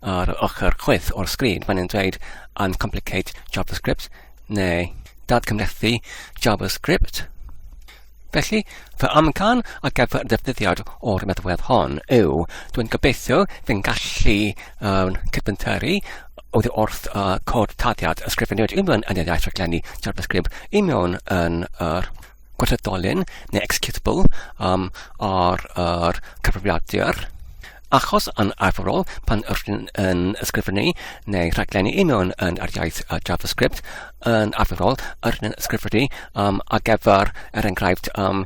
ar yr ochr chwith o'r sgrin mae'n dweud uncomplicate JavaScript neu dadcymhlethu JavaScript. Felly, fy amcan ar gyfer y defnyddiad o'r meddwedd hon yw, dwi'n gobeithio fi'n gallu um, cydbynteru oedd wrth uh, cod tadiad ysgrifennu'r unfan yn y iaith rhaglenni JavaScript i mewn yn yr gweithredolyn neu executable um, ar yr cyfrifiadur. Achos yn arferol, pan ydyn yn ysgrifennu neu rhaglenni i mewn yn yr iaith uh, JavaScript, yn arferol ydyn yn ysgrifennu um, ar gyfer, er enghraifft, um,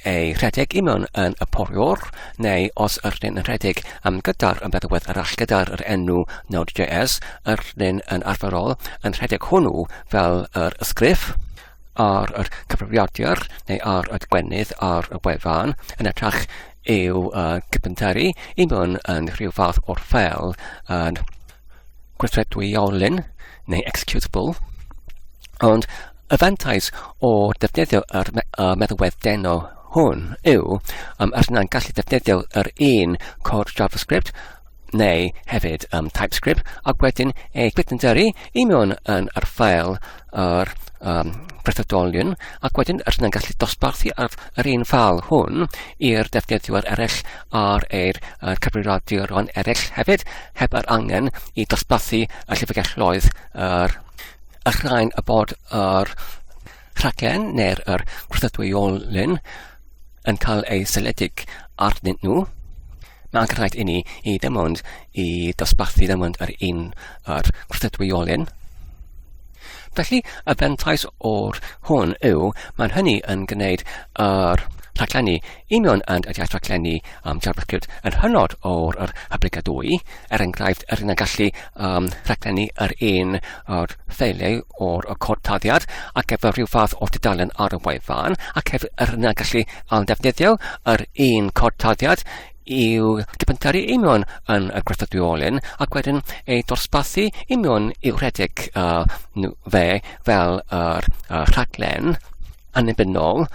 ei rhedeg i mewn yn y poriwr, neu os ydyn yn rhedeg um, gyda'r ymbeddwedd arall gyda'r yr enw Node.js, ydyn yn arferol yn rhedeg hwnnw fel yr ysgrif. ar yr cyfrifiadur neu ar y gwenith ar y wefan yn ytrach i'w uh, cypenteri i mewn yn rhyw fath o'r ffel yn gweithredwyolyn neu executable. Ond y fantais o defnyddio yr me uh, meddalwedd deno hwn yw um, os yna'n gallu defnyddio yr un cod JavaScript neu hefyd um, TypeScript, ac wedyn ei gwydnderu i mewn yn yr ffael yr um, brethodolion, ac wedyn yr hynny'n gallu dosbarthu ar yr un ffal hwn i'r defnyddwyr eraill ar eir uh, cyfrifiaduron eraill hefyd, heb yr angen i dosbarthu y llyfrgelloedd yr, y rhain y bod yr rhaglen neu'r er gwrthdwyolen yn cael ei seledig arnyn nhw, mae'n rhaid i ni i ddim ond i dosbarthu ddim ond yr un yr gwrthdwyolen. Felly, y fentais o'r hwn yw, mae'n hynny yn gwneud yr rhaglenni Union and y iaith raglenni um, JavaScript yn hynod o'r yr hyblyg a dwy, er enghraifft, yr un a gallu um, rhaglenni yr un o'r ffeiliau o'r y cod taddiad ac gyfer rhyw fath o dudalen ar y wefan, ac hefyd yr un a gallu um, defnyddio yr un cod taddiad i'w dibyntaru union yn y gwerthudiolyn ac wedyn ei dosbathu union i'w rhedeg uh, fe fel yr uh, rhaglen annibynnol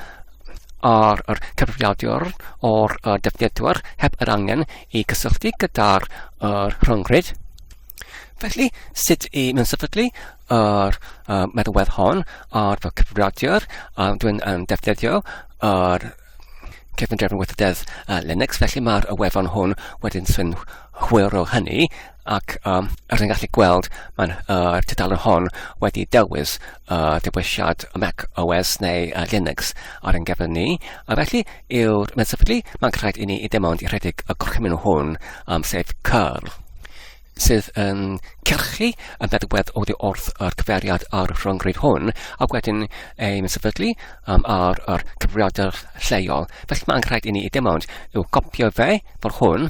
ar yr cyfrifiadur o'r uh, defnyddwyr heb yr angen i gysylltu gyda'r uh, rhyngryd. Felly, sut i mewn sefydlu yr uh, meddalwedd hon ar fy cyfrifiadur, a dwi'n um, defnyddio yr cefndir yn weithrededd uh, Linux, felly mae'r wefan hwn wedyn sy'n hwyr o hynny, ac um, er ni'n gallu gweld mae'n uh, tudalen hon wedi dewis uh, dewisiad Mac OS neu uh, Linux ar ein gefn ni a felly yw'r medsefydlu mae'n rhaid i ni i dim ond i rhedeg y gorchymyn hwn um, sef curl sydd yn cyrchu y meddygwedd oddi wrth yr cyfeiriad ar y rhyngryd hwn ac wedyn ei meddyglu um, ar yr cyfriadau lleol. Felly mae'n rhaid i ni i dim ond i'w gopio fe fel hwn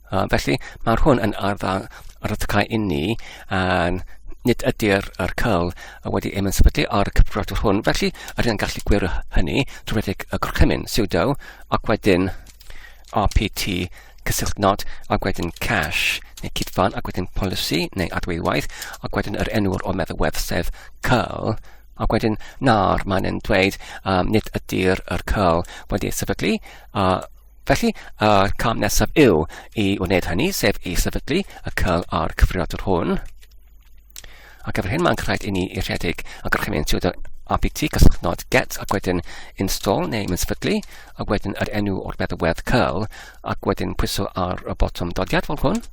Uh, felly, mae hwn yn ardd a ryddhau inni, a nid ydy'r er cyl wedi ei mynsbydu o'r cyfrodwr hwn, felly yr yn gallu gwir hynny drwy redeg y gorchymyn, sudo, ac wedyn rpt cysylltu nod, ac wedyn cache, neu cydfan, ac wedyn policy, neu adweiwaith, ac wedyn yr enw'r o meddwl wedd sef cyl, ac wedyn nawr mae'n yn dweud um, nid ydy'r er cyl wedi ei sefydlu, uh, Felly, y cam nesaf yw i wneud hynny, sef i sefydlu y cyl a'r cyfrifiadur hwn. Ac efo'r hyn mae'n rhaid i ni i rhedeg a gorchymyn trwy dy apt cysylltnod get ac wedyn install neu mynd sefydlu a wedyn yr enw o'r feddywedd cyl ac wedyn pwyso ar y botwm dodiad fel hwn.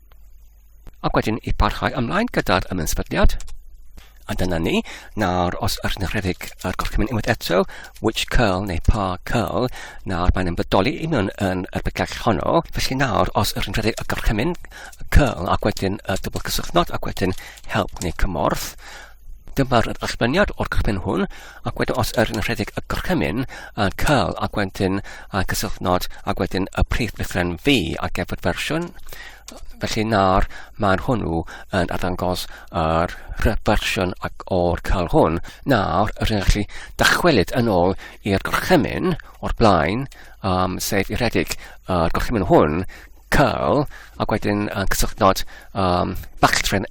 Ac wedyn i parhau ymlaen gyda'r ymwysbyddiad. A dyna ni. Nawr, os ydych chi'n rhedeg yr gorchymyn unwaith eto, which curl neu pa curl, nawr mae'n ymwydoli i mewn yn y bygell honno. Felly nawr, os ydych chi'n rhedeg y gorchymyn, curl, ac wedyn y dwbl cysylltnod, ac wedyn help neu cymorth, Dyma'r ddatganiad o'r cychwyn hwn, ac wedyn os yr yn rhedeg y gorchymyn, a cael ac wedyn a cysylltnod ac wedyn y prif lythren V ar gefod fersiwn, felly nawr mae'n hwnnw yn arddangos yr rhyfersiwn ac o'r cael hwn. Nawr, yr yn gallu dychwelyd yn ôl i'r gorchymyn o'r blaen, um, sef i redig y gorchymyn hwn, cael, ac wedyn yn cysylltnod um, bachltren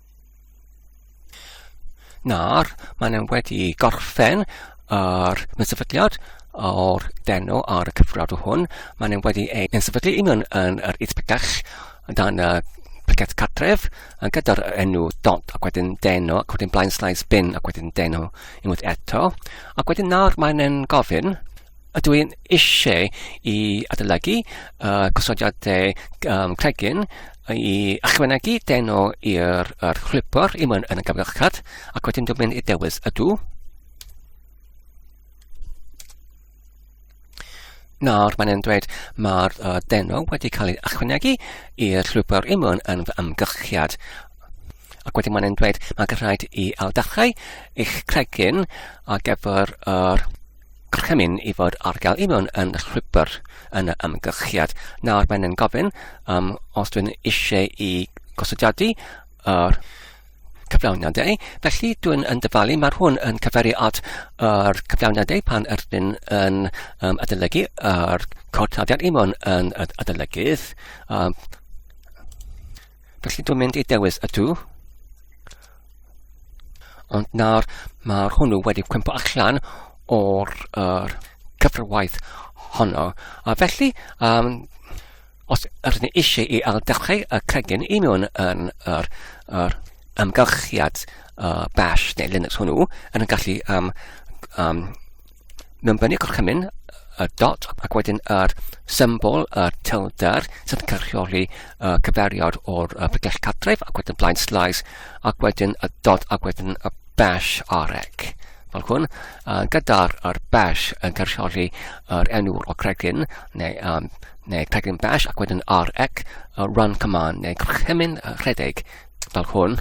Nawr, maen nhw wedi gorffen yr mysefydliad o'r deno ar y cyfrol hwn. Maen nhw wedi ei ysefydlu i mewn yn yr Isbydell dan y picet cartref gyda'r enw dont ac wedyn deno ac wedyn blaen slaes bin ac wedyn deno unwaith eto. Ac wedyn nawr maen nhw'n gofyn Ydw i'n eisiau i adolygu uh, cosodiadau um, cregyn i ychwanegu deno i'r er chwipor i mewn yn y gyfrachad ac wedyn dwi'n mynd i dewis ydw. Nawr mae'n e'n dweud mae'r uh, deno wedi cael ei ychwanegu i'r llwybr i mewn yn fy ymgyrchiad ac wedyn mae'n e'n dweud mae'n rhaid i awdachau eich cregyn ar gyfer yr er gorchymyn i fod ar gael i mewn yn rhywbeth yn y ymgylchiad. Nawr mae'n yn gofyn um, os dwi'n eisiau i gosodiadu yr cyflawniadau. Felly dwi'n yn dyfalu, mae'r hwn yn cyferu at yr cyflawniadau pan ydyn yn um, adolygu yr cod tadiad i mewn yn adolygydd. Um, felly dwi'n mynd i dewis y dw Ond nawr mae hwnnw wedi cwympo allan o'r er, cyfrwaith honno. A felly, um, os ydyn ni eisiau i alddechrau y cregyn i mewn yn yr, yr ymgylchiad uh, bash neu Linux hwnnw, yn gallu um, um, mewn fyny gorchymyn y dot ac wedyn yr symbol, y tilder, sydd yn cyrchioli uh, cyfeiriad o'r uh, bygell cadref ac wedyn blaen slice ac wedyn y dot ac wedyn y bash arec. Fel hwn, uh, gyda'r er bash yn cyrchioli yr enw o cregyn neu, um, neu cregyn bash ac wedyn arec, uh, run command neu gorchymyn rhedeg fel hwn.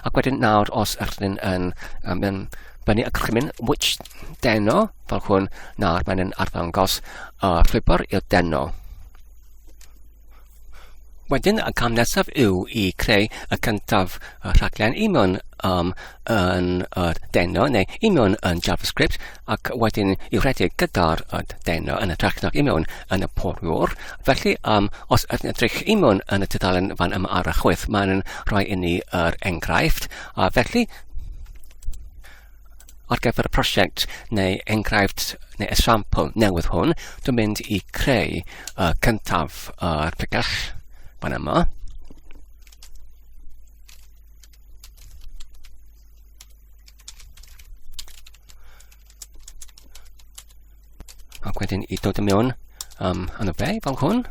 Ac wedyn nawr os ydych chi'n yn um, yn fyny y gorchymyn which deno fel hwn nawr mae'n yn arddangos y uh, llwybr i'r deno. Wedyn y cam nesaf yw i creu y cyntaf y rhaglen i mewn um, yn y uh, deno neu i mewn yn JavaScript ac wedyn i redeg gyda'r dena yn hytrach nag i mewn yn y poriwr. Felly, um, os ydyn edrych i mewn yn y tudalen fan yma ar y chwyth, mae'n rhoi i ni yr er enghraifft, a felly ar gyfer y prosiect neu enghraifft neu esiampl newydd hwn, dwi'n mynd i creu uh, cyntaf yr uh, pigell fan yma. Ac wedyn i dod i mewn um, yn y be fel hwn,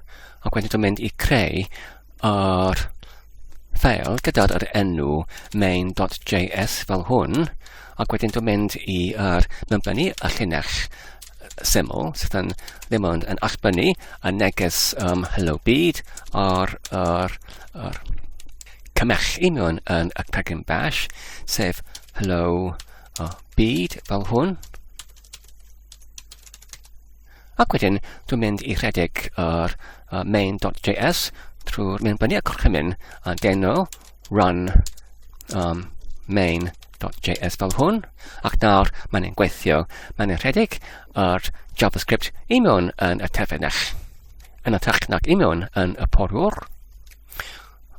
ac wedyn dwi'n mynd i creu yr ffeil gyda'r yr enw main.js fel hwn, ac wedyn dwi'n mynd i ar uh, mewnblenni y llinell syml sydd yn ddim ond yn allbynnu y neges um, Hello Byd ar, ar, ar cymell union yn y pregyn bash, sef Hello uh, Byd fel hwn. Ac wedyn, dwi'n mynd i rhedeg yr uh, main.js trwy'r mynd fyny y corchymyn a deno run um, main.js fel hwn, ac nawr mae'n ein gweithio. Mae'n ein rhedeg ar JavaScript i mewn yn y terfynach, yn y technag i mewn yn y porwr.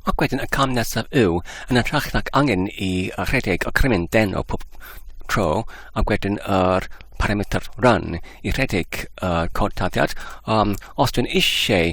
Ac wedyn y cam nesaf yw, yn y technag angen i rhedeg y crymyn den o pob tro, ac wedyn yr er parameter run i rhedeg y uh, cod taddiad. Um, os dwi'n eisiau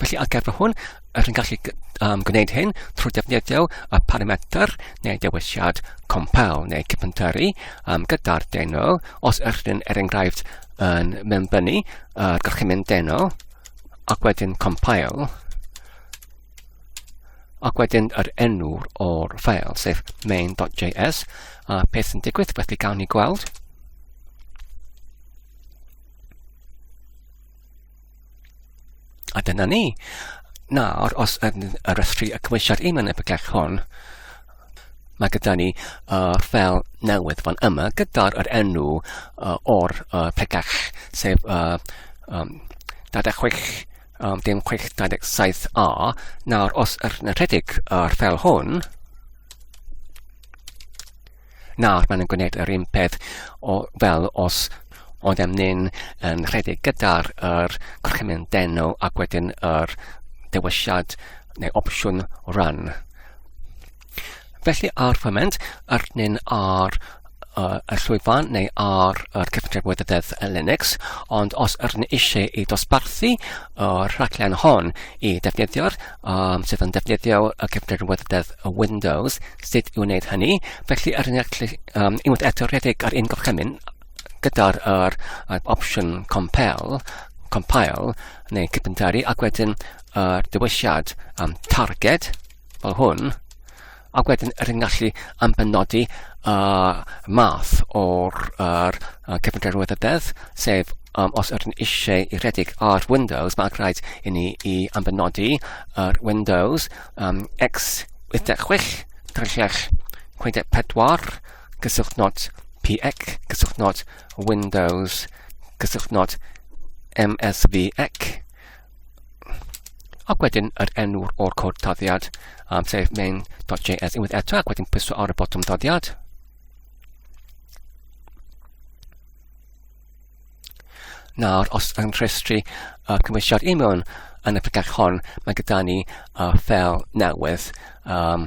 Felly ar gyfer hwn, yr yn gallu um, gwneud hyn trwy defnyddio y parametr neu dewisiad compel neu cypentari um, gyda'r deno. Os ydych yn er enghraifft yn mewnbynnu, uh, gallwch chi mynd deno ac wedyn compile ac wedyn yr enw o'r ffael, sef main.js, a peth yn digwydd, felly gawn ni gweld. A dyna ni. Nawr, os yn yr ysgri y cymwysiad un yn y bygell hwn, mae gyda ni uh, fel newydd fan yma gyda'r er enw uh, o'r uh, pegell, sef uh, um, 26 um, dim 627a. Nawr, os yn rhedeg yr fel hwn, Nawr, maen nhw'n gwneud yr un peth o, fel os oeddem ni'n um, rhedeg gyda'r er, gorchymyn denu ac wedyn yr er, dewisiad neu opsiwn run. Felly ar foment, arnyn ar uh, y llwyfan neu ar yr cyfundrefn wyddeddedd Linux, ond os ydyn eisiau i dosbarthu y rhaglen hon i defnyddio'r um, sydd yn defnyddio y cyfnod wydrdeb y Windows, sut i wneud hynny. Felly, ar un gallu um, unwaith eto rhedeg ar un gorchymyn gyda'r er, er, opsiwn compel, compile neu cypentari ac wedyn yr uh, dewisiad um, target fel hwn Ac wedyn rydyn ni'n gallu am benodi uh, math o'r er, uh, cyfundrefn weithrededd, sef um, os ydyn eisiau i rhedeg ar Windows, mae'n rhaid i ni i ambenodi yr er Windows um, x86 trellach 64 gyswllt not PX gyswllt not Windows gyswllt not MSVX Ac wedyn yr enw o'r cod doddiad um, sef main.js unwaith eto ac wedyn pwyso ar y botwm doddiad. Nawr, os yn rhestru uh, cymwysiad i mewn yn y ffigach hon, mae gyda ni uh, fel newydd um,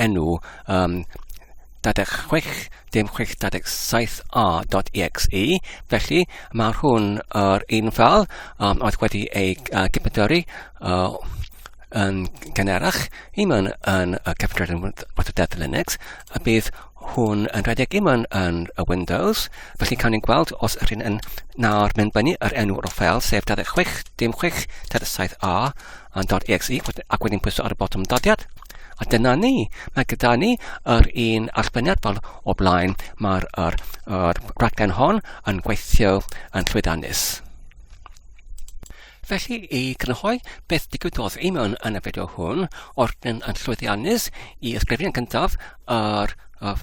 enw um, 66.67a.exe, felly mae hwn yr un fel um, oedd wedi ei uh, gypydori uh, yn gynerach, i mewn yn y cyfrifoldeb yn Waterdedd Linux, a bydd hwn yn rhedeg i mewn yn y Windows, felly cawn ni'n gweld os yr hyn yn nawr mynd fyny yr enw o'r fel, sef 66.67a, yn .exe ac wedyn pwyso ar y botwm dodiad. A dyna ni. Mae gyda ni yr un arbenniad fel o blaen. Mae'r er, er raglen hon yn gweithio yn llwydanus. Felly i grynhoi beth digwyddodd i mewn yn y fideo hwn, o'r yn llwyddiannus i ysgrifennu yn gyntaf yr, er,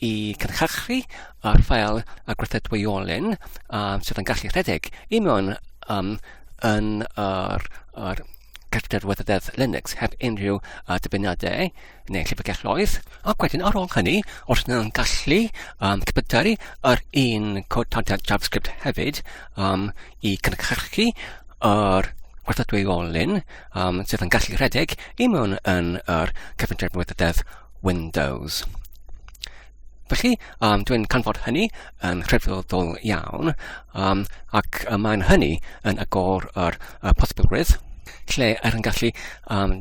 i cynhyrchu ar ffael y gweithredwyolen um, sydd yn gallu rhedeg i mewn um, yn yr, yr cartref weithrededd Linux heb unrhyw uh, dyfyniadau neu llyfrgelloedd. Ac wedyn ar ôl hynny, os yna'n gallu um, cypydaru yr un cod tadiad JavaScript hefyd um, i cynhyrchu yr gweithredwyolen um, sydd yn gallu rhedeg i mewn yn yr cyfundrefn weithrededd Windows. Felly, um, dwi'n canfod hynny yn rhyfeddol iawn, um, ac y mae'n hynny yn agor yr y posibilrwydd lle er yn gallu um,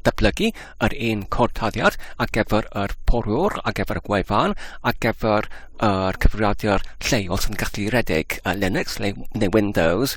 datblygu yr un cortaddiad ar gyfer yr porwr, ar gyfer y gwefan, ar gyfer yr cyfrifiadur lleol sy'n gallu redeg uh, Linux neu, neu Windows,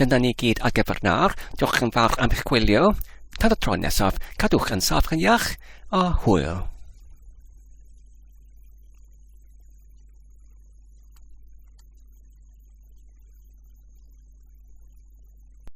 Dyna ni gyd ar gyfer nawr. Diolch yn fawr am eich gwylio. Tan y tro nesaf, cadwch yn saff yn iach a hwyl.